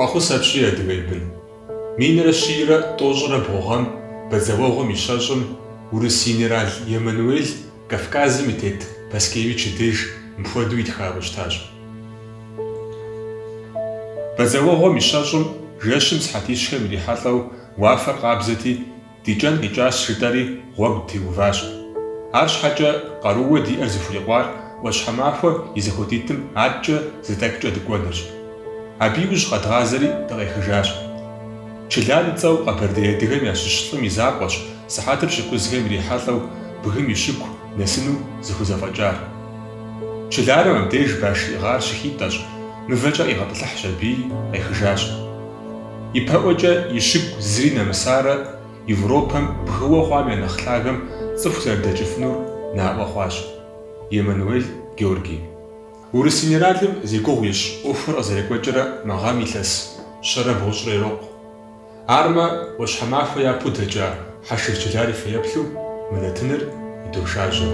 Фӏэхъус апщий, адыгэ бын. Минрэ щийрэ тӏощӏрэ бгъу гъэм Бадзэуэгъуэм и щэщӏым Урыс генерал Емануел Кавказым и тет Паскевич и деж мыпхуэдэу итхауэ щытащ. Бадзэуэгъуэм и щэщӏым жэщым сыхьэтищхэм ирихьэлӏэу уафэр къабзэти, ди кӏэн къикӏащ жытӏэри гъуэгу дытеуващ. Арщхьэкӏэ къарууэ диӏэр зыхурикъуар ӏуащхьэмахуэ и зэхуэдитӏым аткӏэ зы тӏэкӏукӏэ дыкӏуэнырщ. Абы иужь къэдгъазэри дыкъехыжащ. Чылар и цӏэу къэбэрдей адыгэм ящыщ лӏым и закъуэщ, сыхьэтыр пщыкӏузхэм ирихьэлӏэу бгым и щыгу нэсыну зыхузэфӏэкӏар. Чыларым абдеж баш иӏыгъар щыхитӏэщ, мывэкӏэ къигъэтӏылъыхьщ аби, къехыжащ. Ипэӏуэкӏэ и щыгу зыри нэмысарэ Европэм бгыуэ хъуам я нэхъ лъагэм цӏыху зэрыдэкӏыфынур наӏуэ хъуащ. Емануэль Георгий. Урыс генералым зи гугъу ищӏ ӏуэхур къызэрекӏуэкӏрэ мы гъэм илъэс щэрэ бгъущӏрэ ирокъу. Армэ, ӏуащхьэмахуэ япэу дэкӏа Хьэшыр Чылар и фэеплъу мы нэтыныр идошажьэ.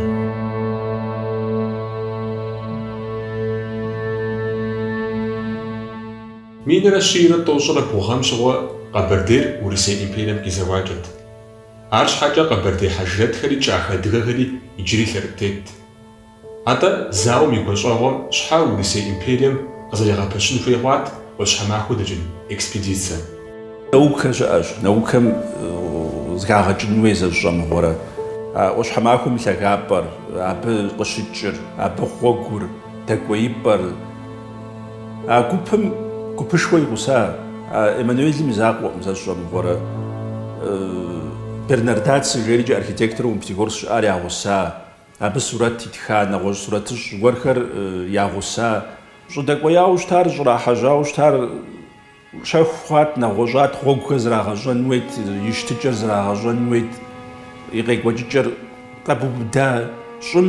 Минрэ щийрэ тӏощӏрэ бгъу гъэм щыгъуэ Къэбэрдейр Урысей империем къизэуакӏэт. Арщхьэкӏэ къэбэрдей хьэжрэтхэри кӏахэ адыгэхэри иджыри лъэрытетт. Атӏэ, зауэм и гуащӏэгъуэм щхьэ Урысей империем къызэригъэпэщын хуей хъуат ӏуащхьэмахуэ дэкӏын экспедицэ? Наукэ щыӏэщ, наукэм зыхагъэкӏын хуей зэщӏэмыгъуэрэ, а ӏуащхьэмахуэм и лъагапӏэр, абы къыщыкӏыр, абы гъуэгур, дэкӏуеипӏэр. А гупым гупышхуэ и гъуса Эммануелым и закъуэкъым зэщӏэмыгъуэрэ, Бернардацци жери архитектору Пятигорск щыӏар я гъуса Абы сурэт итха нэгъуэщӏ сурэтыщӏ гуэрхэр я гъуса. Щӏыдэкӏуеяуэ щытар, щӏрахьэжьауэ щытар щэху хъуат, нэгъуэщӏат, гъуэгухэр зрагъэщӏэн хуейт, и щытыкӏэр зрагъэщӏэн хуейт, и къекӏуэкӏыкӏэр къэбубыда щӏым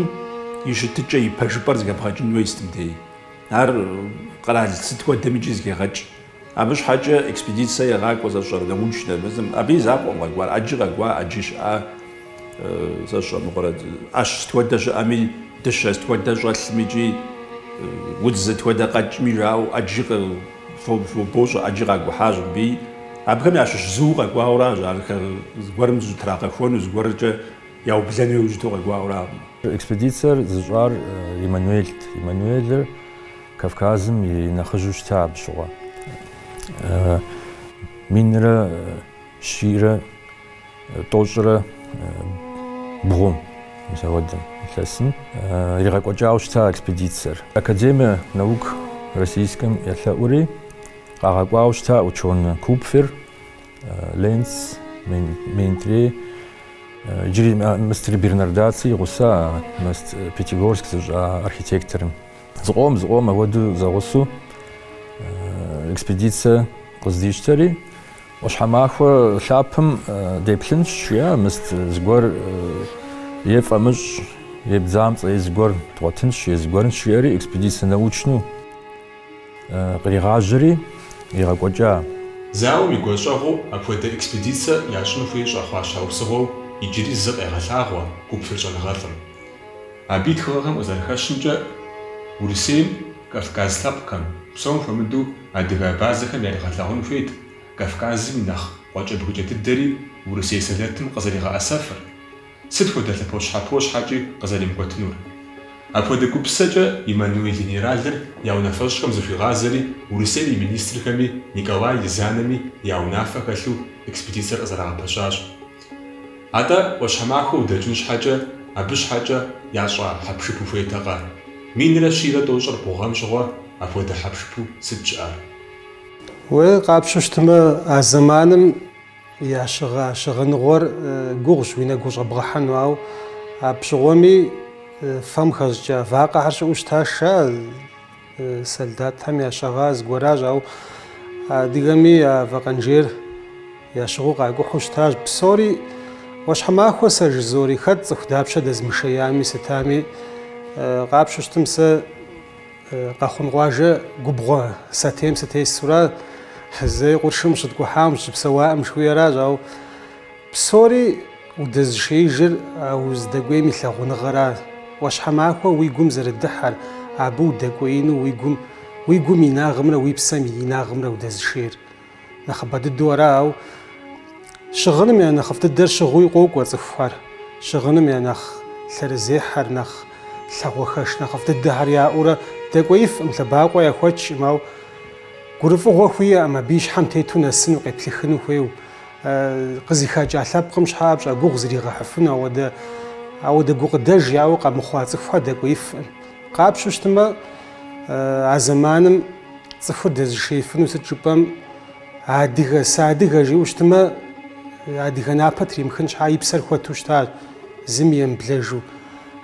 и щытыкӏэ, и пэжыпӏэр зэхэбгъэкӏын хуей сытым дей. Ар къэрал сыт хуэдэм икӏи зыхегъэкӏ. Абы щхьэкӏэ экспедицэ егъакӏуэ сэ сщӏэрэ научнэ мы зым, абы и закъуэкъым къэкӏуар, ӏэджи къэкӏуа, ӏэджи щыӏа, сэ сщӏэ мыгъуэрэ ӏэщ сыт хуэдэ щыӏэми, дыщэ сыт хуэдэ щӏэлъми икӏи удз сыт хуэдэ къэкӏми жаӏэу, ӏэджи вообще, ӏэджи къакӏухьащ мыбы. Абыхэм ящыщ зыу къэкӏуауэращ, ар зыгуэрым зытрагъэхуэну, зыгуэркӏэ яублэну иужь иту къэкӏуауэракъым. Экспедицэр зыщӏар Эммануелт. Эммануелыр Кавказым и нэхъыжьу щыта абы щыгъуэ минрэ щийрэ тӏощӏрэ бгъум, мис ауэдэм илъэсым иригъэкӏуэкӏауэ щыта экспедицэр. Академие наук российскэм елъэӏури, къагъэкӏуауэ щыта ученый Купфер, Ленц, Менетрие, иджыри мыстри Бернардацци и гъуса мыст Пятигорск зыщӏа архитекторым. Зыкъом, зыкъом ауэду зэгъусу экспедицэ къыздищтэри, ӏуащхьэмахуэ лъапэм деплъынщ, жиӏа мыст зыгуэр е фӏэмыщӏ, е бдзамцӏэ, е зыгуэр дгъуэтынщ, е зыгуэрынщ, жиӏэри экспедицэ научну къригъажьэри игъэкӏуэкӏа. Зауэм и гуащӏэгъуэу апхуэдэ экспедицэ ящӏыну хуей щӏэхъуа щхьэусыгъуэу иджыри зы къегъэлъагъуэ Купфер щӏэныгъэлӏым. Абы и тхыгъэхэм къызэрыхэщымкӏэ, Урысейм, Кавказ лъэпкъхэм, псом хуэмыдэу адыгэ абазэхэм яригъэлъагъун хуейт Кавказым и нэхъ къуэкӏэбгыкӏэ дыдэри Урысей сэлэтым къызэригъэӏэсэфыр, сыт хуэдэ лъэпощхьэпо щхьэкӏи къызэримыкӏуэтынур. Апхуэдэ гупсысэкӏэ Эммануэль генералыр я унафэщӏхэм зыхуигъазэри Урысейм и министрхэми Николай Езанэми я унафэ хэлъу экспедицэр къызэрагъэпэщащ. Атӏэ, ӏуащхьэмахуэ удэкӏын щхьэкӏэ, абы щхьэкӏэ ящӏа хьэпшып ухуейтэкъэ? Минрэ щийрэ тӏощӏрэ бгъу гъэм щыгъуэ апхуэдэ хьэпшыпу сыт щыӏэр? Уэ къапщтэу щытмэ, а зэманым я щыгъэ щыгъыныгъуэр гугъущ уи нэгу щӏэбгъэхьэну, ауэ абы щыгъуэми фэм хэщӏыкӏа вакъэхэр щыӏэу щытащ, жаӏэ. Солдатхэм ящыгъа зыгуэращ, ауэ адыгэми я вакъэнжейр ящыгъыу къакӏухьу щытащ. Псори ӏуащхьэмахуэ сэ жызоӏэри, хэт цӏыху дапщэ дэзмышеями сытами, къапщтэу щытмэ сэ Къэхъун къуажэ губгъуэ сатейм сытесура, зэи къуршым щыткӏухьаӏым, щыпсэуаӏым жыхуиӏэращ, ауэ Псори удэзышеижыр а уздэкӏуейм и лъагъуныгъэра? ӏуащхьэмахуэ уи гум зэрыдыхьэр, абы удэкӏуеину уи гум, уи гум инагъымрэ уи псэм инагъымрэ удэзышейр нэхъыбэ дыдэу ара, ауэ щыгъыным я нэхъыфӏ дыдэр щыгъуи къокӏуэ цӏыхухэр, щыгъыным я нэхъ лъэрызехьэр, нэхъ лъагъуэхэш нэхъыфӏ дыдэхэр яӏэурэ дэкӏуеифӏым, лъэбакъуэ яхуэчӏым, ауэ гурыфӏыгъуэ хуиӏэм, абы и щхьэм тету нэсыну, къеплъыхыну хуейуэ. Къызыхэкӏа лъэпкъым щхьэкӏэ пщӏэ, гугъу зригъэхьыфыну ауэдэ ауэдэ гукъыдэж яӏэу къэмыхъуа цӏыхухэр дэкӏуеифӏым. Къапщу щытмэ, а зэманым цӏыхур дэзышеифыну сыт жыпӏэм адыгэ, сыадыгэ жиӏэу щытмэ, адыгэ напэ тримыхын щхьа и псэр хуэту щыта, зыми емыблэжу.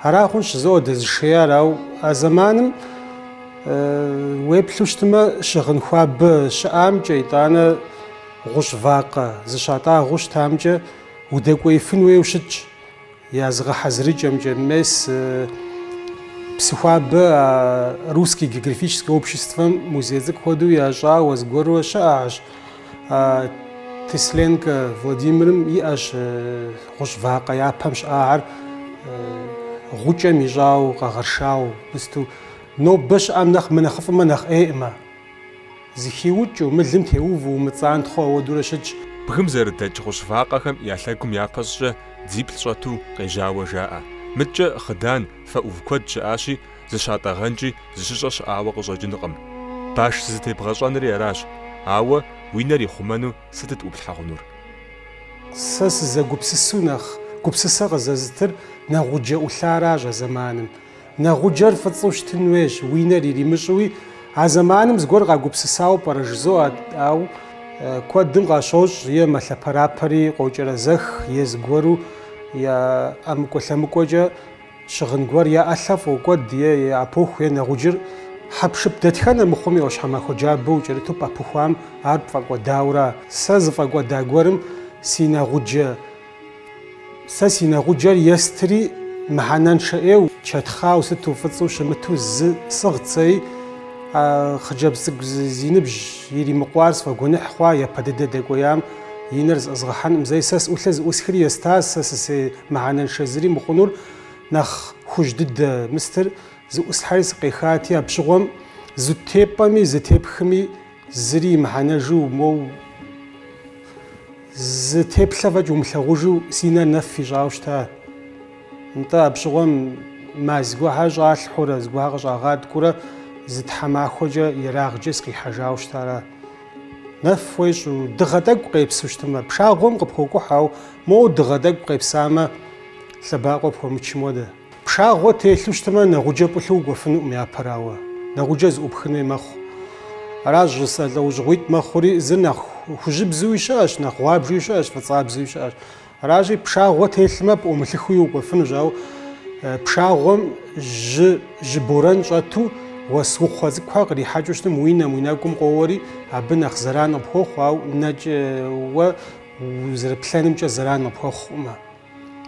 Ара хъунщ жызоӏэ дэзышеяр, ауэ а зэманым уеплъу щытмэ, щыгъын хуабэ щыӏамкӏэ, итӏанэ Гъущӏ вакъэ зыщатӏагъэу щытамкӏэ удэкӏуеифын хуейуэ щытщ, я зыгъэхьэзырыкӏэмкӏэ, мес Псыхуабэ а Русское географическое обществэм музей цӏыкӏу хуэдэу ящӏауэ зыгуэрурэ щыӏэщ. Тесленкэ Владимирым иӏэщ гъущӏ вакъэ япэм щыӏахэр гъукӏэм ищӏауэ, къэгъэршауэ мысту. Нобэ щыӏэм нэхъ мынэхъыфӏымэ нэхъ ӏейӏымэ. Зыхиукӏыу, мылым теуву, умыцӏантхъуэу ауэдурэ щытщ. Бгым зэрыдэкӏ гъущӏ вакъэхэм я лъэгум япэщӏкӏэ дзиплӏ щӏэту къежьауэ жаӏэ. Мыткӏэ хъыдан, фэ ӏув куэд щыӏащи, зыщатӏэгъэнкӏи, зыщыщӏэ щыӏауэ къыщӏэкӏынкъым. Баш зызытебгъэщӏэнри аращ. Ауэ уи нэр ихъумэну сытыт ӏуплъхьэ хъунур? Сэ сызэгупсысу нэхъ гупсысэ къызэзытыр нэгъуджэ ӏулъаращ а зэманым. Нэгъуджэр фӏыцӏэу щытын хуейщ, уи нэр иримыщӏуи. А зэманым зыгуэр къагупсысауэ пӏэрэ жызоӏэ, ауэ куэдым къащощӏ е мэлъэпэрапэри къокӏэрэзэх, е зыгуэру я ӏэмыкӏуэ-лъэмыкӏуэкӏэ щыгъын гуэр я ӏэлъэ фӏокӏуэд е япоху, е нэгъуджэр, хьэпшып дэтхэнэ мыхъуми ӏуащхьэмахуэ джабэ укӏэрыту пӏэпыхуам ар пфӏэкӏуэдауэ ара. Сэ зыфӏэкӏуэда гуэрым си нэгъуджэ. Сэ си нэгъуджэр естри, мыхьэнэншэ ӏейу, чэтхъауэ сыту фӏыцӏэу щымыту зы сӏыгът сэи, а хъыджэбз цӏыкӏу зи ныбжь иримыкъуар сфӏэгуэныхь хъуа, япэ дыдэ дэкӏуеям и нэр зэӏызгъэхьэнӏым зэи. Сэ сӏулъыр зыӏусхри еста, сэ сысей мыхьэнэншэ зыри мыхъунур нэхъ хужь дыдэ мыстыр зыӏуслъхьэри сыкъехати, а пщыгъуэм зытепӏэми, зытепхми, Зыри имыхьэнэжу, моу зы теплъэ фӏэкӏ умылъагъужу си нэр нэф ищӏауэ щыта. Нтӏэ, апщыгъуэм мазь гуэрхэр щӏалъхьурэ, зыгуэрхэр къыщӏагъэткӏуурэ зы тхьэмахуэкӏэ ерагъкӏэ сыкъихьэжауэ щытара. Нэф уещӏ, дыгъэ тӏэкӏу къепсу щытмэ, пшагъуэм къыпхуокӏухь, ауэ моу дыгъэ тӏэкӏу къепсамэ, лъэбакъуэ пхуэмычым хуэдэ. Пшагъуэ телъу щытмэ, нэгъуджэ пӏулъу укӏуэфынукъым япэрауэ, нэгъуджэ зыӏупхын хуей мэхъу. Аращ жысӏэ лӏэужьыгъуитӏ мэхъури, зыр нэхъ хужьыбзуи щыӏэщ, нэхъ гъуабжэуи щыӏэщ, фӏыцӏабзэуи щыӏэщ. Аращи, пшагъуэ телъмэ, пӏумылъыхуи укӏуэфынущ, ауэ пшагъуэм жьы, жьы борэн щӏэту, уэсукхъуэ цӏыкӏухэр кърихьэкӏыу щытым, уи нэм, уи нэгум къоуэри, абы нэхъ зэран къыпхуэхъу, ауэ нэкӏэ уэ узэрыплъэнымкӏэ зэран къыпхуэхъукъымэ.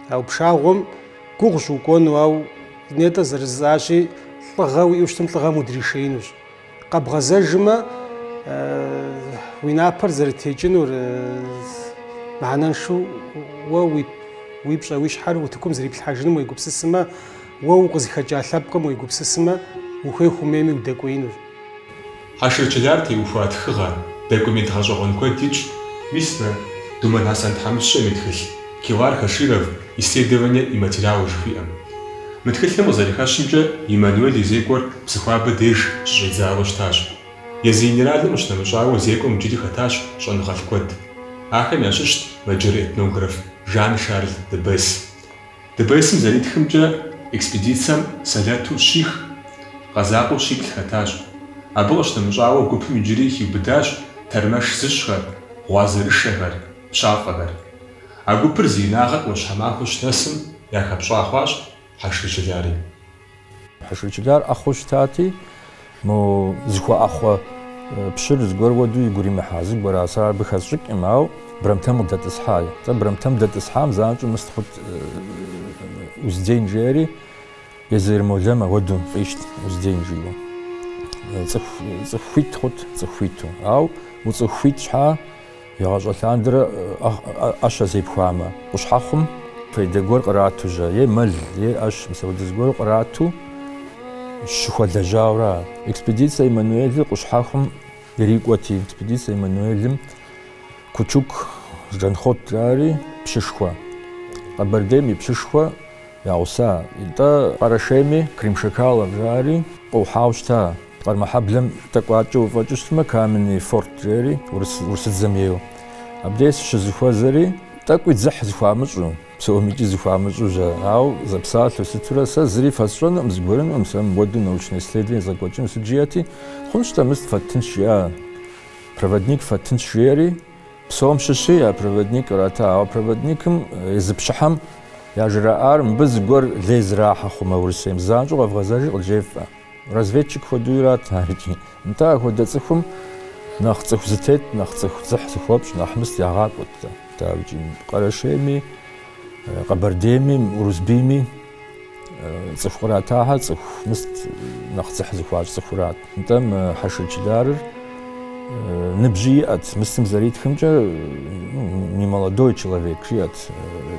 А пшагъуэм гугъущ укӏуэну, ауэ нетӏэ зэрыжысӏащи, лӏыгъэ уиӏэу щытым лӏыгъэм удришеинущ. Къэбгъэзэжмэ, уи напэр зэрытекӏынур мыхьэнэншэу уэ уи пщӏэ уи щхьэр утыкум зэриплъхьэжынум уегупсысмэ, уэ укъызыхэкӏа лъэпкъым уегупсысмэ, ухуей-ухуэмейми удэкӏуеинущ. Хьэшыр Чылар теухуа тхыгъэ, документ гъэщӏэгъуэн куэд итщ, мис мы Думэн Хьэсэн тхьэмыщкӏэм и тхылъ, Килар Хаширов, Исследование и материалы жыхуиӏэм. Мы тхылъым къызэрыхэщымкӏэ, Иммануэль и зекӏуэр Псыхуабэ деж щыщӏидзауэ щытащ. Езы генералым къыщынэмыщӏауэ зекӏуэм иджыри хэтащ щӏэныгъэлӏ куэд. Ахэм ящыщт мэджыр этнограф Жан-Шарль де Бесс. Де Бессым зэритхымкӏэ, экспедицэм сэлэту щих, къэзакъуэу щиплӏ хэтащ. Абы къыщынэмыщӏауэ, гупым иджыри хиубыдащ тэрмэш зыщӏхэр, гъуазэрышэхэр, пщафӏэхэр. А гупыр зи инагъыр Ӏуащхьэмахуэ щынэсым яхэпщӏа хъуащ Хьэшыр Чылари. Хьэшыр Чылар ӏэхъуэу щытати, мо зыхуэӏэхъуэ пщыр зыгуэр уэду игу римыхьа зыгуэра, сэ абы хэсщӏыкӏкъым, ауэ Брамтэм къыдэтӏысхьай. Тӏэ Брамтэм дэтӏысхьам занщӏэу мыст хъут узден жери, езы Ермолэм ауэду фӏищт узден жиӏэу. Цӏыху, цӏыху хуит хъут, цӏыху хуиту. Ауэ уцӏыху хуит щхьа? Игъащӏэ лъандэрэ ӏэщ зепхуамэ, къущхьэхъум фейдэ гуэр кърату жьэ, е мэл, е ӏэщ мис апхуэдэ зыгуэру кърату щыхуэлэжьауэ ара? Экспедиция Эммануэлыр къущхьэхъум ирикӏуэти, экспедиция Эммануэлым Кучук Жанхъуэтыр ари пщышхуэ, Къэбэрдейм и пщышхуэ я гъуса, итӏэ Къэрэшейми Крымшамхалов жари къыгухьауэ щыта. Къармэхьэблэм тӏэкӏуачӏэ уфӏэкӏыу щытмэ, Каменный форт жери, урысыдзэм ейуэ. Абдей сыщызыхуэзэри, тӏэкӏуи дзыхь зыхуамыщӏу, псомикӏи зыхуамыщӏу жа. Ауэ зэпсалъэу сытурэ сэ зыри фэсщӏэнукъым, зыгуэрынукъым сэ мыпхуэду научнэ исследование езгъэкӏуэкӏыну. Сыт жиӏэти, хъунщ-тӏэ, мыст фэтынщ, жиӏа проводник фэтынщ, жери, псом щыщи я проводник кърата. Ауэ проводникым езы пщыхьэм яжраӏар мыбы зыгуэр лей зрахьэ хъумэ Урысейм, занщӏэу къэвгъэзэжи къыджефӏэ. Разведчик хуэду ират ар икӏи. Нтӏэ, ахуэдэ цӏыхум нэхъ цӏыху зэтет, нэхъ цӏыху дзыхь зыхуэпщӏ, нэхъ мыст ягъакӏуэт дауикӏи. Къэрэшейми, Къэбэрдейми, Урысбийми цӏыху къратахьэр цӏыху мыст нэхъ дзыхь зыхуащӏ цӏыхурат. Нтӏэ, мы Хьэшыр Чыларыр ныбжьи иӏэт, мыстым зэритхымкӏэ немолодой человек жиӏэт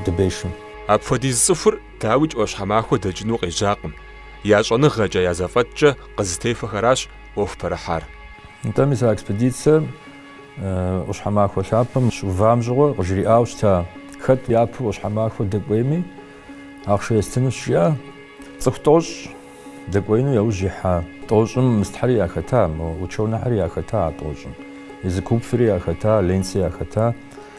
Дебешым. Апхуэдиз цӏыхур Дауикӏ ӏуащхьэмахуэ дэкӏыну къежьакъым, я щӏэныгъэкӏэ, я зэфӏэкӏкӏэ къызытехуэхэращ ӏуэху пэрыхьар. Нтӏэ мис а экспедицэр ӏуащхьэмахуэ лъапэм щыувам щыгъуэ къыжриӏауэ щыта, хэт япэу ӏуащхьэмахуэ дэкӏуейми, ахъшэ естынущ жиӏэ. Цӏыху тӏощӏ дэкӏуеину яужь ихьа тӏощӏым мыстхьэри яхэта, ученыхьэри яхэта а тӏощӏым, езы Купфери яхэта, Ленци яхэта.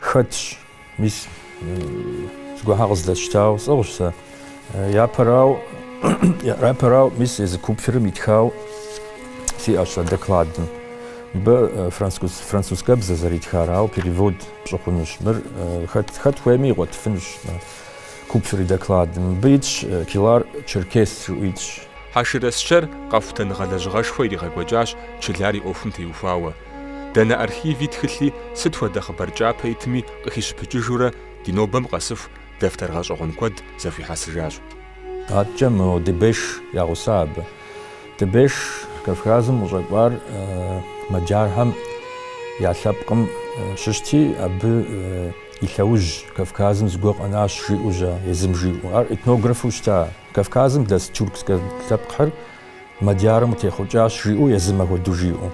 Хэтщ, мис, зыгуэрхьэ къыздэсщтауэ сӏыгъщ сэ. Япэрауэ, япэрауэ, мис, езы Купферым итхауэ сиӏэщ сэ докладым. Мыбы французскэбзэ зэритхар, ауэ перевод пщӏы хъунущ. Мыр хэт, хэт хуейми игъуэтыфынущ Купфер и докладым. Мыбы итщ Килар Черкес жиӏэу итщ. Хьэшыр Асчэр къэхутэныгъэ лэжьыгъэшхуэ иригъэкӏуэкӏащ Чылар и ӏуэхум теухуауэ. Дэнэ архиви тхылъи, сыт хуэдэ хъыбар кӏапэ итми къыхищыпыкӏыжурэ, ди нобэм къэсыху дэфтэр гъэщӏэгъуэн куэд зэхуихьэсыжащ. Адэкӏэ мо Дебеш я гъуса абы. Дебеш Кавказым къыщӏэкӏуар мэджархэм я лъэпкъым щыщти, абы и лъэужь Кавказым зыгуэр къэнащ жиӏэу жьа, езым жиӏэу. Ар этнографу щыта Кавказым дэс тюркскэ лъэпкъхэр. Мадьярым къытехъукӏащ, жиӏэу езым ахуэдэу жиӏэу.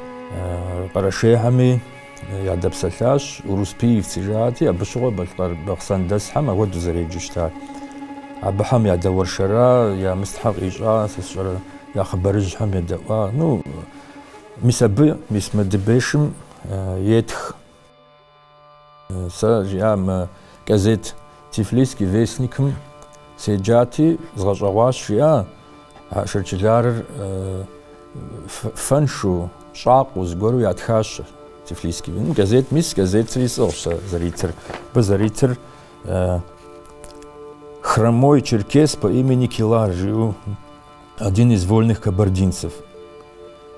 Къэрэшейхэми ядэпсэлъащ, Уруспиевцы жати, абы щыгъуэ Балъкъэр Бахъсэн дэсхэм ахуэдэу зэреджэу щытар. Абыхэм ядэуэршэра, я мыстхьэр къищӏа, сэ сщӏэрэ, я хъыбарыжьхэм едэӏуа. Ну, мис абы, мис мы Дебешым етх. Сэ жиӏа мы газет Тифлисский вестникым седжати, згъэщӏэгъуащ, жиӏа Хьэшыр Чыларыр фэншу, щӏакъуэу зыгуэру ятхащ Тифлисский. Ну, газет мис, газетри сӏыгъщ сэ зэритыр. Абы зэритыр Хромой черкес по имени Килар жиӏэу Один из вольных кабардинцев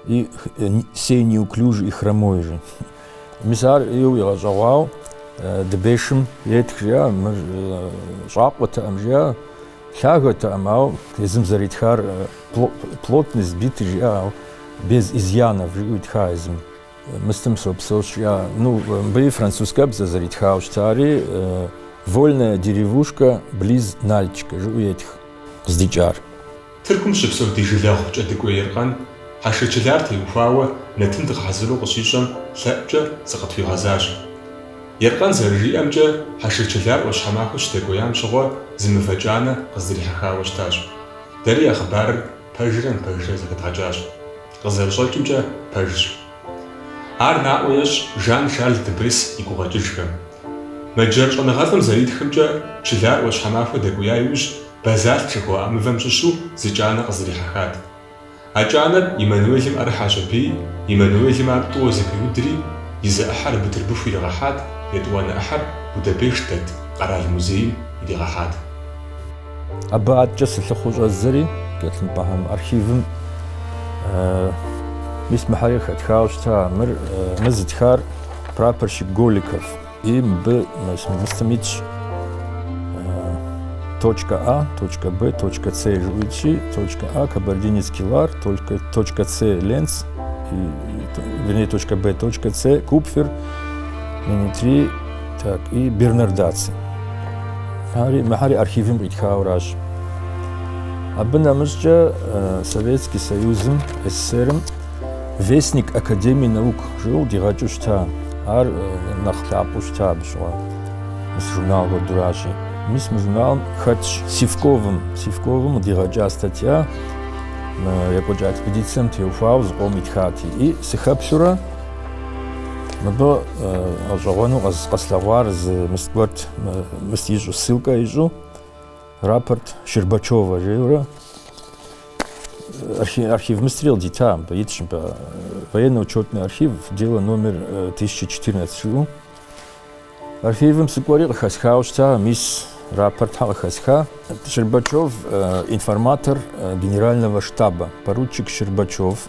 и сей неуклюжий, хромой же. Мис ар иу игъэщӏэгъуау Дебешым етх жиӏа, мыр щӏакъуэтэкъым жиӏа, лъагэтэкъым, ау езым зэритхар плотно сбитый жиӏа, ау без изъянов жиӏэу итха езым. Мыстым сопсэу жиӏа. Ну, мыбы и французкэбзэ зэритхауэ щытари вольная деревушка близ Нальчика жиӏэу етх. къыздикӏар. Тыркум щыпсэу ди жылэгъу Кӏэдыкӏуей Еркъэн Хьэшыр Чылар теухуауэ нэтын дыкъыхьэзыру къыщищӏэм лъэӏукӏэ зыкъытхуигъэзащ. Еркъэн зэрыжиӏэмкӏэ, Хьэшыр Чылар ӏуащхьэмахуэ щыдэкӏуеям щыгъуэ зы мывэ кӏанэ къыздрихьэхауэ щытащ. Дэри я хъыбарыр пэжрэ мыпэжрэ зэхэдгъэкӏащ. Къызэрыщӏэкӏымкӏэ, пэжщ. Ар наӏуэ ещӏ Жан-Шарль Дебрис и гукъэкӏыжхэм. Мэджэр щӏэныгъэлӏым зэритхымкӏэ, Чылар ӏуащхьэмахуэ дэкӏуя иужь, базальт жыхуаӏэ мывэм щыщу зы кӏанэ къыздрихьэхат. А кӏанэр Эммануэлым ӏэрыхьэщ аби, Эммануэлым ар тӏууэ зэпиудри, и зы ӏыхьэр Бытырбыху иригъэхьат, етӏуанэ ӏыхьэр Будапешт дэт къэрал музейм иригъэхьат. Абы аткӏэ сылъыхъуэу щӏэздзэри, Гелъымпӏэхэм архивым мис мыхьэри хэтхауэ щыта мыр, мыр зытхар прапорщик Голиков и мыбы мыстым итщ точка А, точка Б, точка С жиӏу итщи, точка А кабардинец Килар, точка С Ленц, вернее, точка Б, точка С Купфер, Менетрие Так, и Бернардацци. Ари мыхьэри архивым къитхауращ. Абы нэмыщӏкӏэ э, Советский Союзым, СССР-м Вестник Академии наук жиӏэу дигъэкӏыу щыта. Ар э, нэхъ лъапӏэу щыта абы щыгъуэ. Мис журнал хуэдуращи. Мис мы журналым хэтщ Сивковым. Сивковым дигъэкӏа статья э, екӏуэкӏа экспедицием теухуауэ зыкъом итхати. И сыхэплъурэ Мыбы гъэщӏэгъуэну къэслъэгъуар зы мыст гуэрт, мыст ищӏу, ссылкэ ищӏу, рапорт Щербачева жиӏэурэ, архив мыстри къыдита, мыбы итщ, мыбы военно-учетный архив, дело номер 1014 жиӏэу. Архивым сыкӏуэри къыхэсхауэ щыта, мис рапортхьэ къыхэсха. Щербачев информатор генерального штаба, поручик Щербачев.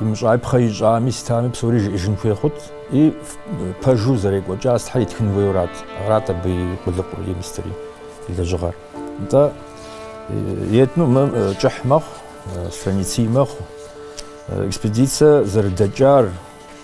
Мыщӏапхъэ ищӏами, сытами псори жиӏэжын хуей хъут. И пэжу зэрекӏуэкӏа сытхьэр итхын хуейурат. Арат абы и къулыкъур, и мыстыри, и лэжьыгъэр. Нтӏэ, етӏну мы кӏыхь мэхъу, страниций мэхъу. Экспедицэ зэрыдэкӏар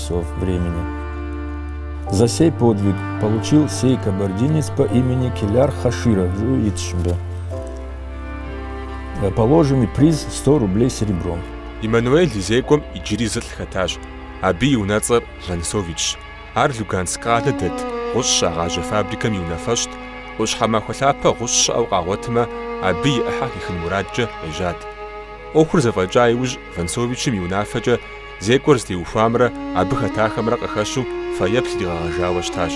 часов времени. За сей подвиг получил сей кабардинец по имени Келяр Хаширов, жыӏэу итщ мыбы. Положенный приз 100 рублей серебром. Иммануэль и зекӏуэм иджыри зылӏ хэтащ. Абы и унэцӏэр Вансовичщ. Ар Луганск къалэ дэт гъущӏ щагъажьэ фабрикэм и унафэщӏт, ӏуащхьэмахуэ лъапэ гъущӏ щыӏэу къагъуэтмэ, абы и ӏыхьэ къыхихын мурадкӏэ ежьат. ӏуэхур зэфӏэкӏа иужь Вансовичым и унафэкӏэ Зекӏуэр зытеухуамрэ абы хэтахэмрэ къыхэщу фэеплъ иригъэгъэжауэ щытащ.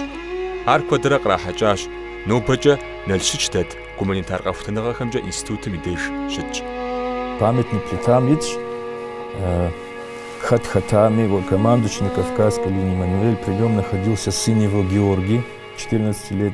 Ар куэдрэ кърахьэкӏащ, нобэкӏэ Налщыч дэт гуманитар къэхутэныгъэхэмкӏэ институтым и деж щытщ. Памятник плитам итщ хэт хэтами, командующий на Кавказской линии Иммануэль, при нем находился сын его Георгий, четырнадцати лет.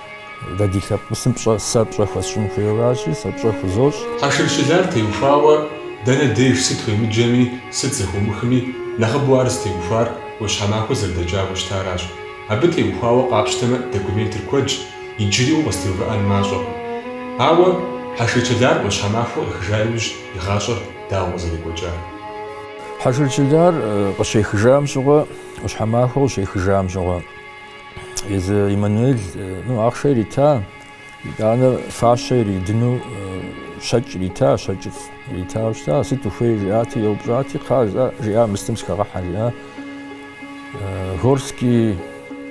Дэ ди лъэпкъысым пщӏэ, сэ пщӏэ хуэсщӏын хуейуэ аращи, сэ пщӏэ хузощӏ. Хьэшыр Чылар теухуауэ дэнэ деж сыт уемыджэми, сыт зэхумыхми, нэхъыбэу ар зытеухуар ӏуащхьэмахуэ зэрыдэкӏауэ щытаращ. Абы теухуауэ къапщтэмэ документыр куэдщ, иджыри укъызытеувыӏэн мащӏэкъым. Ауэ Хьэшыр Чылар ӏуащхьэмахуэ къехыжа иужь и гъащӏэр дауэ къызэрекӏуэкӏар? Хьэшыр Чылар къыщехыжам щыгъуэ, ӏуащхьэмахуэ къыщехыжам щыгъуэ. езы Иммануэль ну ахъшэ ирита, итӏанэ фащэ иридыну щэкӏ ирита, щэкӏыфӏ иритауэ щыта, сыт ухуей жиӏати, еупщӏати, кхъа жиӏа, мыстым схэгъэхьэ жиӏа. Горский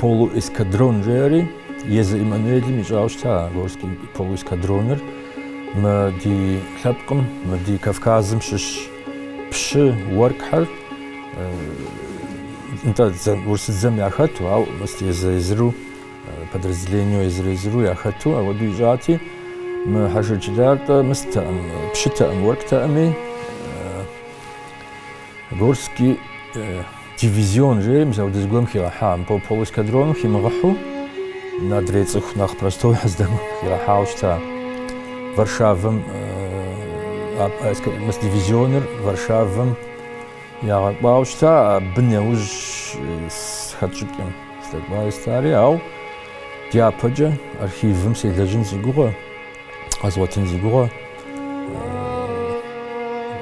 полуэскадрон жери, езы Иммануэлым ищӏауэ щыта Горский полуэскадроныр мы ди лъэпкъым, мы ди Кавказым щыщ Пщы уэркъхэр нтӏэ урысыдзэм яхэту, ау мыст езыр-езыру, подразделениеу езыр-езыру яхэту, ауэду ищӏати, мы Хьэшыр Чылар нтӏэ мыстэӏым, пщытэӏым, уэркътэӏыми, Горский Дивизион, жери мис ауэдэ зыгуэм хигъэхьа, мыбы полуэскадроным химыгъыхьу, адрей цӏыху нэхъ простой здэм хигъэхьауэ щыта. Варшавэм мис дивизионыр Варшавэм ягъэкӏуауэ щыта, абы нэужь хэсщӏыкӏкъым здэкӏуауэ щытари, ау дяпэкӏэ архивым селэжьын си гугъэ. Къэзгъуэтын си гугъэ.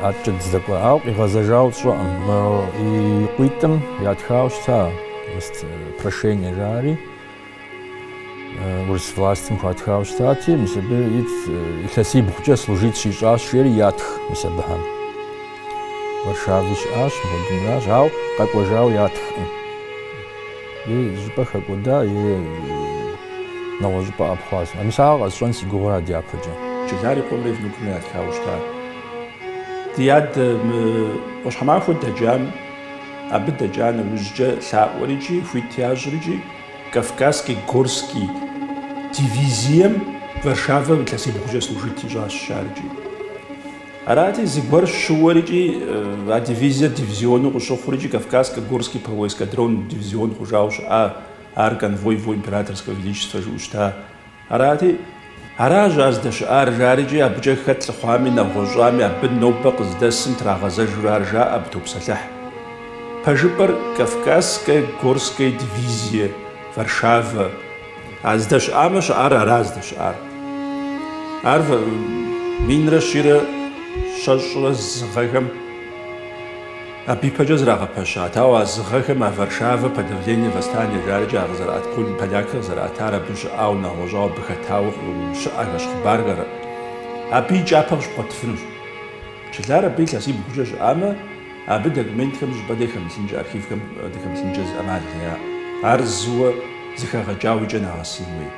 Адэкӏэ здэкӏуа. Ауэ къигъэзэжауэ сщӏэкъым. И къуитӏым ятхауэ щыта прошение жари. Урыс властым хуатхауэ щытати, мис абы ит илъэсибгъукӏэ служит щищӏащ жери ятх мис абыхэм. Варшавэ щыӏащ, мыхуэдынращ, ауэ къэкӏуэжауэ ятхкъым. Е щӏыпӏэ хэкӏуэда, е нэгъуэщӏыпӏэ ӏэпхъуащ. А мис ар къэсщӏэн си гугъэу ара дяпэкӏэ. Чылар и къуэмрэ и внукымрэ ятхауэ щыта. Ди адэ ӏуащхьэмахуэ дэкӏам, абы дэкӏа нэужькӏэ лъаӏуэр икӏи хуит ящӏыр икӏи Кавказский горский дивизием Варшавэм илъэсибгъукӏэ служит ищӏащ ар икӏи. Арати, зыгуэр щыуэр икӏи а дивизиер дивизиону къыщыхъур икӏи Кавказско-Горский полуэскадрон дивизион хъужауэ щыӏа, ар конвой Его Императорского Величества жыӏэу щыта. Арати, аращ ар здэщыӏар, жарикӏи абыкӏэ хэт лъыхъуами, нэгъуэщӏами, абы нобэ къыздэсым трагъэзэжурэ ар жаӏэ абы топсэлъыхь. Пэжыпӏэр Кавказско-Горская дивизие, Варшавэ. А здэщыӏамэ щыӏар ара здэщыӏар? Ар минрэ щийрэ щэщӏрэ зы гъэхэм абы ипэкӏэ зрагъэпэщат, ауэ а зы гъэхэм а Варшавэ, подавление восстания жарикӏи а къызэрыӏэт пол полякхэр къызэрыӏэтар абы щыӏауэ нэгъуэщӏауэ абы хэтауэ щыӏэхэщ хъыбархэр абы и кӏапэ къыщыбгъуэтыфынущ. Чылар абы илъэсибгъукӏэ щыӏамэ, Абы документхэм щӏыпӏэ де хэмылъынкӏэ, архивхэм де хэмылъынкӏэ зы ӏэмал яӏэ. Ар зыуэ зыхэгъэкӏауэ и кӏэ нэгъэсын хуей.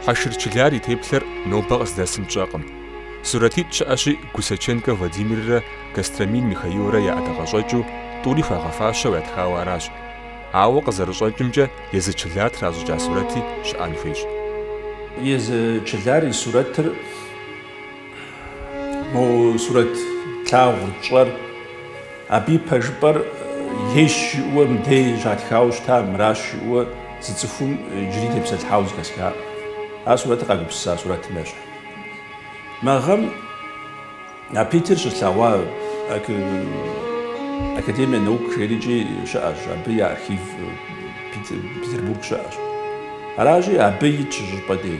Хьэшыр Чылар и теплъэр нобэ къыздэсым тщӏэкъым. Сурэтитӏ щыӏэщи, Гусаченкэ Владимиррэ Костромин Михаилрэ я ӏэдакъэщӏэкӏыу, тӏури хуагъэфащэу ятхауэ аращ. Ауэ, къызэрыщӏэкӏымкӏэ, езы Чылар тращӏыкӏа сурэти щыӏэн хуейщ. Езы Чылар и сурэтыр. Мо сурэт тлъагъур тщӏэр, абы и пэжыпӏэр ейщ жиӏэуэ мыдей щатхауэ щыта, мыращ жиӏэуэ зы цӏыхум иджыри тепсэлъхьауэ зыхэсхакъым. А сурэтыр къагупсыса сурэтым ещхь. Мы гъэм а Питер щыслъэгъуа Академия наук жерикӏи щыӏэщ, абы и архив Петербург щыӏэщ. Аращи, абы итщ щӏыпӏэ дей.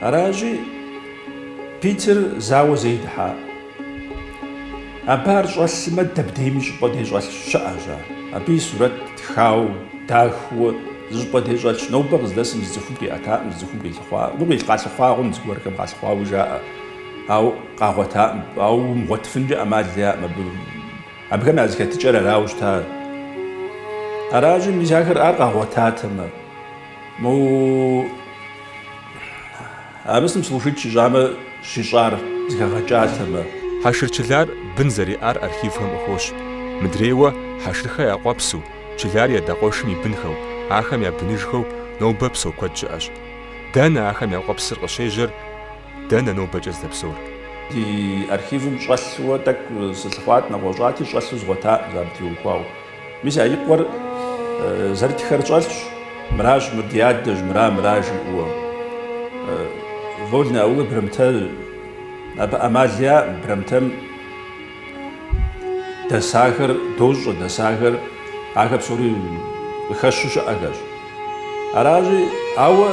Аращи, Питер зауэ зэи дыхьакъым. Абы ар щӏэлъмэ дэбдейм зыщӏыпӏэ де щӏэлъ щыӏэщ ар. Абы и сурэт тхауэ, дахэу, зыщӏыпӏэ де щӏэлъщ. Нобэ къыздэсым зы цӏыхум къиӏэтакъым, зы цӏыхум къилъыхъуакъым. Къалъыхъуакъым, зыгуэрхэм къалъыхъуауэ жаӏэ, ауэ къагъуэтакъым. Ауэ умыгъуэтыфынкӏэ ӏэмал яӏэкъым абы. Абыхэм я зэхэтыкӏэр арауэ щыта. Аращи, мис ахэр ар къагъуэтатэмэ. Мо абысым служит щищӏамэ, щищӏар зыхэгъэкӏатэмэ. Хьэшыр Чылар бын зэриӏар архивхэм къыхощ. Мыдрейуэ, Хьэшырхэ я къуэпсу, Чылар и адэ къуэшым и бынхэу, ахэм я быныжхэу нобэ псэу куэд щыӏэщ. Дэнэ ахэм я къуэпсыр къыщежьэр, дэнэ нобэкӏэ здэпсэур? Ди архивым щӏэлъууэ тӏэкӏу сылъыхъуат, нэгъуэщӏати, щӏэлъу згъуэтакъым, абы теухуауэ. Мис а и къуэр зэрытхэр щӏэлъщ, мыращ, мыр ди адэщ, мыра, мыра жиӏэуэ. Вольнэ Аул Брамтэ, абы ӏэмал яӏым, Брамтэм дэсахэр дощӏэ, дэсахэр, ахэр псори къыхэщу щыӏэхэщ. Аращи, ауэ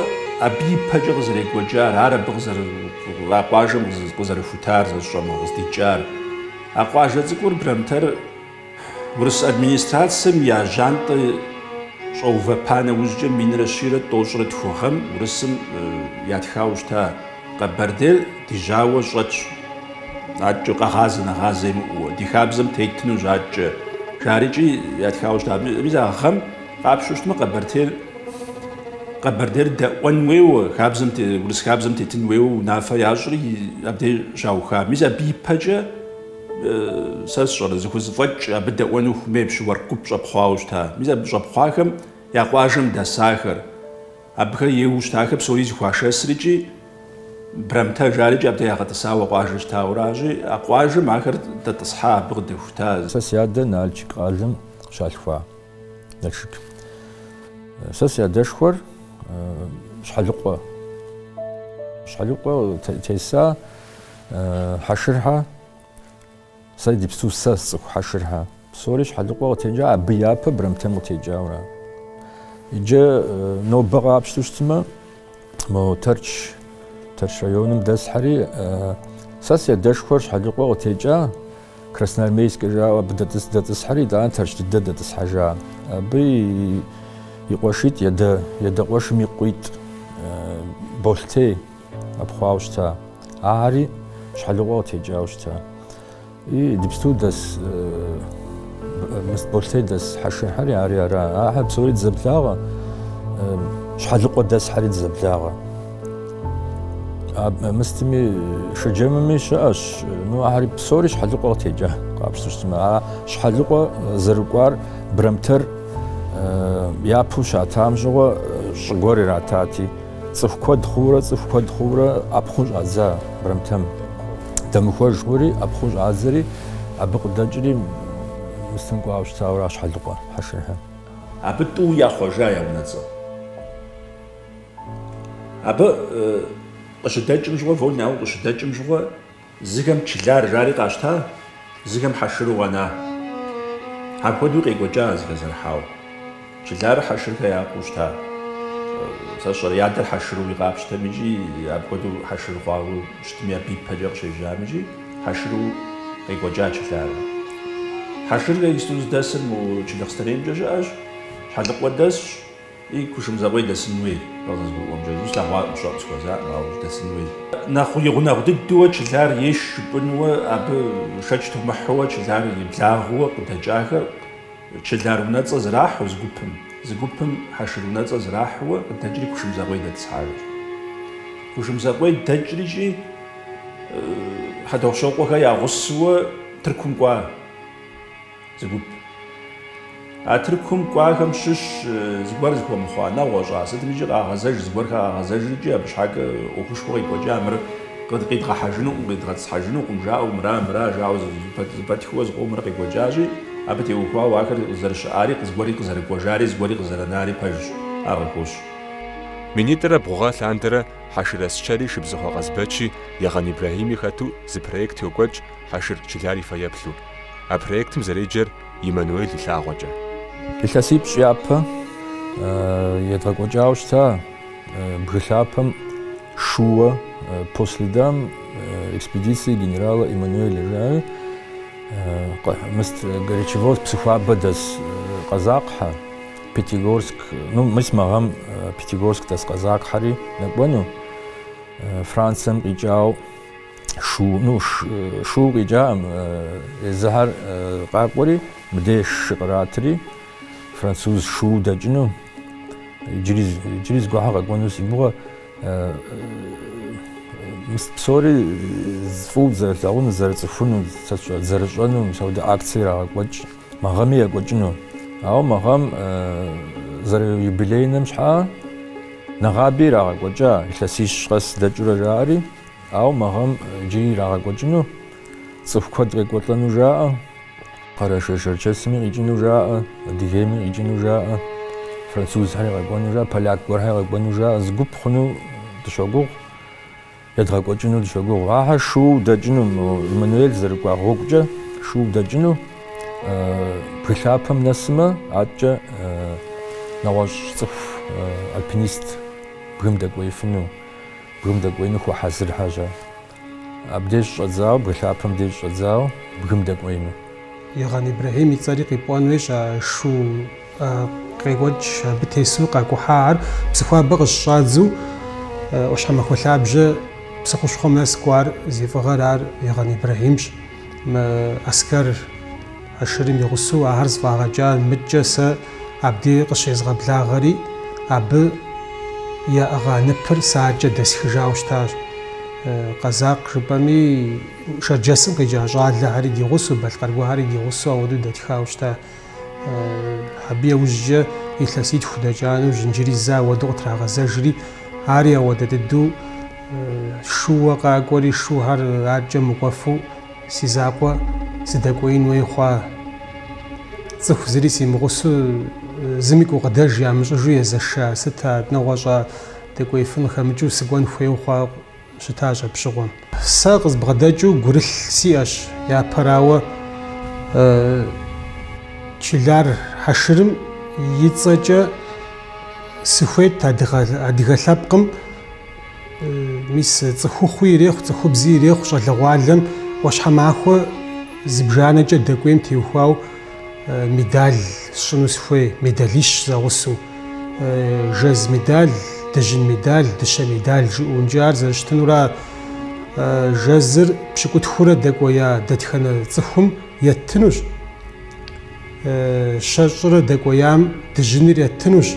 абы ипэкӏэ къызэрекӏуэкӏар, ар абы а къуажэм къызэрыхутар, сэ сщӏэм, къыздикӏар. А къуажэ цӏыкӏур, Брамтэр, Урыс администрацэм я жьантӏэ щӏэувэпа нэужькӏэ минрэ щийрэ тӏощӏрэ тху гъэм Урысым ятхауэ щыта Къэбэрдейр ди жьауэ щӏэтщ, адэкӏэ къэгъазэ нэгъазэ имыӏууэ, ди хабзэм тетынущ адэкӏэ, жарикӏи ятхауэ щыта. Мис а гъэм къапщту щытмэ, Къэбэртейр, Къэбэрдейр дэӏуэн уейуэ, а урыс хабзэм тетын уейуэ унафэ ящӏри, абдей щауха. Мис абы ипэкӏэ, Сэ сщӏэрэ, зыхузэфӏэкӏ абы дэӏуэну хуэмей пщы уэркъ гуп щӏэпхъуауэ щыта. Мис абы щӏэпхъуахэм я къуажэм дэсахэр, абыхэр ейуэ щытахэр псори зыхуашэсрикӏи Брамтэ жарикӏи абдей ягъэтӏысауэ а къуажэр щытауращи, а къуажэм ахэр дэтӏысхьа, абы къыдэхута. Сэ си адэ Нальчик къалэм щалъхуа Налшык. Сэ си адэшхуэр Щхьэлыкъуэ. Щхьэлыкъуэ теса Хьэшырхьэ, сэ идыпсту сэ сцӏыху Хьэшырхьэ. Псори Щхьэлыкъуэ къытекӏа, абы япэ Брамтэм къытекӏауэ. Иджы нобэ къапщту щытмэ, мо Тэрч, Тэрч районым дэсхьэри, сэ си адэшхуэр Щхьэлыкъуэ къытекӏа, Красноармейскэ жаӏэу абы дэтӏыс дэтӏысхьэри, итӏанэ Тэрч дыдэ дэтӏысхьэжа. Абы и къуэшитӏ, и адэ къуэшым и къуитӏ Болэтей. Ӏэпхъуауэ щыта. Ахэри Щхьэлыкъуэ къытекӏауэ щыта. Идыпсту дэс мыст Болэтей дэс Хьэшырхьэри ари ара. Ахэр псори дызэблагъэ, Щхьэлыкъуэ дэсхьэри дызэблагъэ. Мыстми Шэджэмми щыӏэщ, ну ахэр псори Щхьэлыкъуэ къытекӏа къапщту щытмэ. А Щхьэлыкъуэ зэрыкӏуар Брамтэр япэу щатам щыгъуэ щӏыгуэр иратати, Цӏыху куэд хъуурэ, цӏыху куэд хъуурэ ӏэпхъун щӏадза Брамтэм. Дэмыхуэж хъури, ӏэпхъун щӏадзэри, абы къыдэкӏри мыстым кӏуауэ щытауэращ Щхьэлыкъуэ Хьэшырхьэ. Абы тӏэу яхъуэжа я унэцӏэ. Абы къыщыдэкӏым щыгъуэ, Вольнэ Аул къыщыдэкӏым щыгъуэ, Зыхэм чылар жари къащта, зыхэм хьэшыру къэна. Апхуэдэуи къекӏуэкӏа зыхэзэрыхьауэ. Чыларыр Хьэшырхэ я къуэу щыта. Сэ сщӏэрэ, и адэр хьэшыру къапщтэм икӏи апхуэдэу хьэшыр хъуауэ щытми, абы ипэкӏэ къыщежьам икӏи хьэшыру къекӏуэкӏа чыларыр. Хьэшырхэ исту зыдэсыр мо Джылахъстэнеймкӏэ щыӏэщ, Щхьэлыкъуэ дэсщ. И Кушмэзыкъуей дэсын хуей къызгурыӏуэмкӏэ, слъэгъуакъым, щыӏэу сыхуэзакъым, ауэ дэсын хуей. Нэхъ и гъунэгъу дыдууэ Чылар ейщ жыпӏэнууэ абы шэч тумыхьууэ чылар и благъэу къыдэкӏахэр чылар унэцӏэ зрахьу зы гупым, зы гупым хьэшыр унэцӏэ зрахьууэ къыдэкӏри Кушмэзыкъуей дэтӏысхьащ. Кушмэзыкъуей дэкӏрикӏи Хьэтӏохъущокъуэхэр я гъусэуэ Тыркум кӏуа. Зы гуп. А Тыркум кӏуахэм щыщ зыгуэр зыхуэмыхъуа нэгъуэщӏа, сытмикӏи къагъэзэж, зыгуэрхэр къагъэзэжрикӏи абы щхьэкӏэ ӏуэхушхуэ къекӏуэкӏа мыр къидгъэхьэжынукъым, къидгъэтӏысхьэжынукъым, жаӏэу, мыра, мыра, жаӏэу зэпэтхыуэ зыкъомрэ къекӏуэкӏащи, абы теухуауэ ахэр зэрыщыӏари, зыгуэри къызэрыкӏуэжари, зыгуэри къызэрынари пэжщ, ар къыхощ. Минитӏрэ бгъу гъэ лъандэрэ Хьэшыр Ӏэсчэри Шыбзыхъуэ Къазбэчи Егъэн Ибрэхьими хэту зы проект йокӏуэкӏ Хьэшыр Чылар и фэеплъу. А проектым зэреджэр Эммануэль и лъагъуэкӏэ. Илъэсипщӏ япэ едгъэкӏуэкӏауэ щыта бгы лъапэм шууэ По следам экспедиции генерала Эммануэля жари, мис Горячеводск Псыхуабэ дэс къэзакъхьэ, Пятигорск, ну, мис мы гъэм Пятигорск дэс къэзакъхьэри нэкӏуэну, Францием къикӏауэ. Шу, ну, шу къикӏакъым. Езыхьэр къакӏуэри, мыдей шы къратри, француз шу дэкӏыну, иджыри, иджыри зыгуэрхьэ къэкӏуэну си гугъэ, псори фӏыу зэрылъагъуну, зэрыцӏыхуну, сэ сщӏэр, зэрыщӏэну, мис апхуэдэ акцие ирагъэкӏуэкӏ, мы гъэми екӏуэкӏыну. Ауэ мы гъэм зэрыюбилейным щхьа нэгъаби ирагъэкӏуэкӏа, илъэсищ къэс дэкӏыурэ жаӏэри, Ауэ мы гъэм иджыри ирагъэкӏуэкӏыну цӏыху куэд къекӏуэлӏэну жаӏэ, Къэрэшей-Шэрчэсми къикӏыну жаӏэ, Адыгейми къикӏыну жаӏэ, французхэри къэкӏуэну жаӏэ, поляк гуэрхэр къэкӏуэну жаӏэ, зы гуп хъуну дыщогугъу, едгъэкӏуэкӏыну дыщогугъу. Ахэр шууэ дэкӏыну, мо Эммануэль зэрыкӏуа гъуэгукӏэ шууэ дэкӏыну бгы лъапэм нэсымэ, аткӏэ нэгъуэщӏ цӏыху альпинист бгым дэкӏуеифыну. Бгым дэкӏуеину хуэхьэзырхьэ жьа? Абдеж щӏэдзауэ, бгы лъапэм деж щӏэдзауэ, бгым дэкӏуеину. Егъэн Ибрэхьим и цӏэри къипӏуэн хуейщ, а шу къекӏуэкӏ абы тесу къакӏухьа ар, Псыхуабэ къыщыщӏадзу ӏуащхьэмахуэ лъабжьэ псы хущхъуэм нэс кӏуар зи фӏыгъэр ар Егъэн Ибрэхьимщ. Мы Аскэр Ашырым и гъусэу ахэр зыфӏагъэкӏа мыдкӏэ сэ абди къыщезгъэблагъэри, абы яӏыгъа ныпыр сэ адкӏэ дэсхыжауэ щытащ. Къэзакъ жыпӏэми, шэрджэсым къикӏа щӏалэхэри ди гъусэу, балъкъэргухэри ди гъусэу ауэдэу дэтхауэ щыта. Абы яужькӏэ илъэситху дэкӏа нэужь иджыри зэ ауэдэу къытрагъэзэжри, ари ауэдэ дыдэу шууэ къакӏуэри, шухэр адкӏэ мыкӏуэфу си закъуэ сыдэкӏуеин хуей хъуа. Цӏыху зыри симыгъусу, зыми гукъыдэж ямыщӏыжу езэша, сыт а нэгъуэщӏа дэкӏуеифын хэмыкӏыу сыкӏуэн хуейуэ хъуауэ щытащ апщыгъуэм. Сэ къызбгъэдэкӏыу гурылъ сиӏэщ, япэрауэ, Чылар Хьэшырым и цӏэкӏэ сыхуейт адыгэ лъэпкъым, мис цӏыхухъуи ирехъу, цӏыхубзи ирехъу щӏалэгъуалэм ӏуащхьэмахуэ зыбжанэкӏэ дэкӏуейм теухуауэ. медаль сщӏыну сыхуей, медалищ зэгъусу. Жэз медаль, дыжьын медаль, дыщэ медаль жиӏункӏэ ар зэрыщытынура жэзыр пщыкӏутхурэ дэкӏуея дэтхэнэ цӏыхум еттынущ. Щэщӏрэ дэкӏуеям дыжьыныр еттынущ.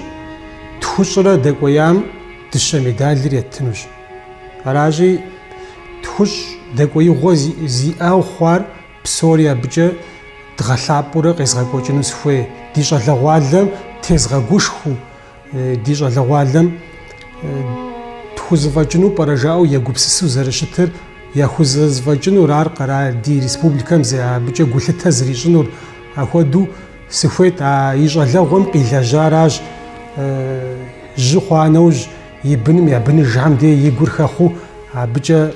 Тхущӏрэ дэкӏуеям дыщэ медалыр еттынущ. Аращи, тхущӏ дэкӏуеигъуэ зиӏэу хъуар Псори абыкӏэ дгъэлъапӏэурэ къезгъэкӏуэкӏыну сыхуей. Ди щӏалэгъуалэм тезгъэгушхуэу, ди щӏалэгъуалэм тхузэфӏэкӏыну пӏэрэ жаӏэу егупсысу зэрыщытыр, яхузэзэфӏэкӏынур ар къэрал, ди республикэм зы абыкӏэ гулъытэ зрищӏынур. Ахуэдэу сыхуейт, а и щӏалэгъуэм къилэжьаращ, жьы хъуа нэужь, и быным я быныжхэм де и гур хэхъуу абыкӏэ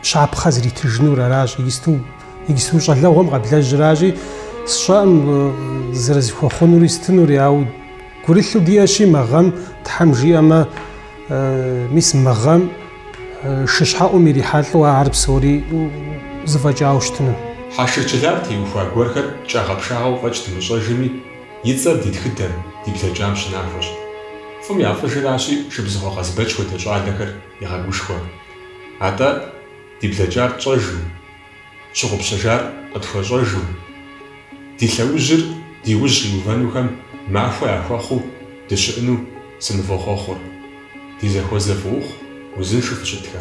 Щапхъэ зритыжынур аращ, иджысту щӏалэгъуэм къэблэжьыращи, сщӏэӏым зэрызыхуэхъунури сытынури, ауэ гурылъу диӏэщи мы гъэм, Тхьэм жиӏэмэ, мис мы гъэм шыщхьэӏум ирихьэлӏэу ар псори зыфӏэкӏауэ щытыну. Хьэшыр Чылар теухуа гуэрхэр кӏагъэпшагъэу фӏэкӏ дымыщӏэжми, и цӏэр ди тхыдэм, ди блэкӏам щынахуэщ. Фӏым я фӏыжыращи, Шыбзыхъуэ Къазбэч хуэдэ щӏалэхэр егъэгушхуэ. Атӏэ, ди блэкӏар тщӏэжу, щыгъупщэжар къытхуэщӏэжу, ди лъэужьыр ди ужь къиувэнухэм махуэ яхуэхъуу дыщыӏэну сынывохъуэхъур, ди зэхуэзэ фӏыухъу узыншэу фыщытхэ.